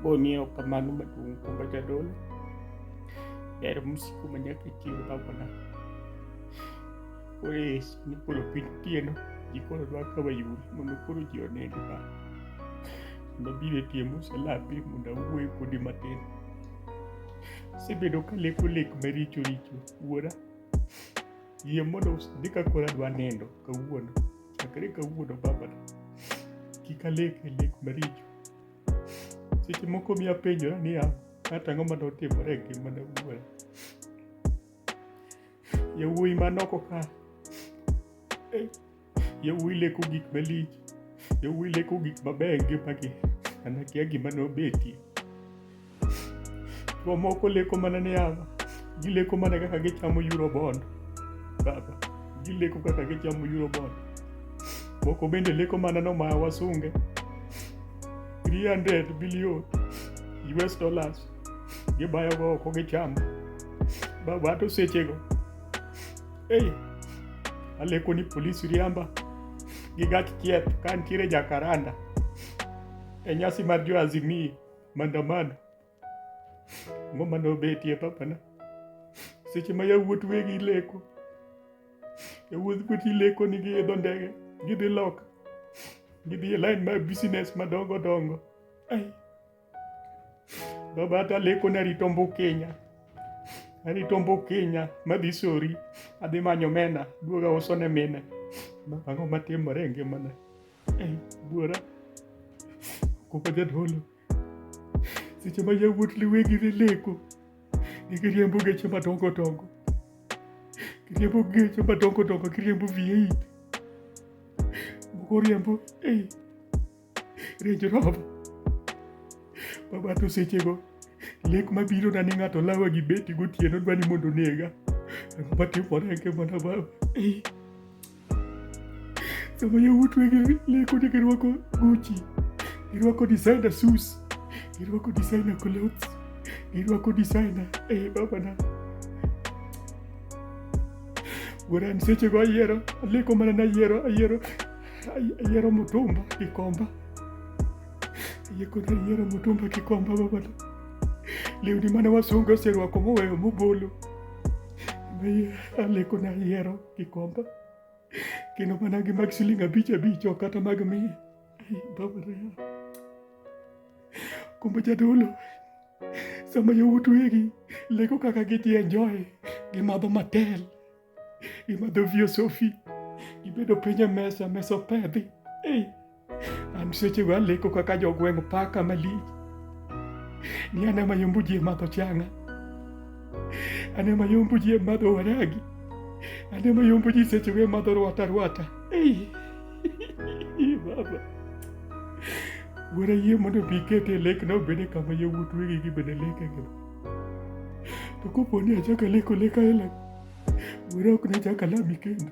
Boni ya upambano maduong' kumba jadolo ber msiku manyaka ichiw babona koro yesu ni koro piny tieno ji koro dwa ka wayuri mondo koro ji oneni ba mondo biro tie mosalapi mondo awuoye kodi matin asebedo ka leko lek maricho richo wuora yie mondo usidhi ka koro adwa nindo kawuono chakre kawuono babana kik alek e lek maricho seche moko mi apenjora niya kata ang'o mane otimore e ngimana wuoya yawuoyi manoko ka eh, yawuoyi leko gik malich yawuoyi leko gik mabeyo e ngimagi anakia gima nobetie Jomoko leko mana ni yaba, gileko mana kaka gichamo euro bond. Baba, gileko kaka gichamo euro bond. Moko bende leko mana no ma wasunge. 300 billion US dollars gibayo go oko gichamo. Baba to sechego. Ei, aleko ni polisi riamba gi gach chieth ka nitiere jakaranda e nyasi mar jo Azimio. mandamano ang'o mane obetie papana seche ma yawuot wegi leko yawuot wegi leko ni giidho ndege gidhi loka gidhi e line mar business madongo dongo ai baba hata leko narito mbukenya arito mbukenya madhi sori adhi manyo mena duoga uso ne mine ang'o matimore e ngimana Buora, okumba jadolo, seche ma yawuot liwegi ne leko, ne giriembo geche madongo dongo, giriembo geche madongo dongo, giriembo V8, moko riembo ei Range Rover. Baba to sechego lek mabiro na ni ng'ato lawa gi beti gotieno dwa ni mondo onega. Ang'o matimore e ngimana baba? sama yawuot wege leko ni girwako Gucci, girwako designer shoes, girwako designer clothes, girwako designer eh, babana wuoran sechego ayiero aleko mana ni ayiero ayiero ayiero mutumba gi komba ayekona ayiero mutumba gi komba babana lewni mane wasunge oserwako moweyo mobolo aleko na ayiero Kikomba. Kino mana gi mag siling abich abich ok kata mag mia. Baba Rea. Kumbe jadolo. Sama yowuot wegi leko kaka gidhi enjoy gimadho matel gimadho vio sofi gibedo piny e mesa mesa opedhi. Hey. An sechego aleko kaka jogweng' paka malich ni an ema yombo ji e madho changa, an ema yombo ji e madho waragi, an ema yombo ji sechego e madho rwata rwata. Ei, baba wuora yie mondo bi ikete lekna obede kama yawuot wegi gi bende lekego to kopo ni achako aleko lek aila wuora ok nachak alami kendo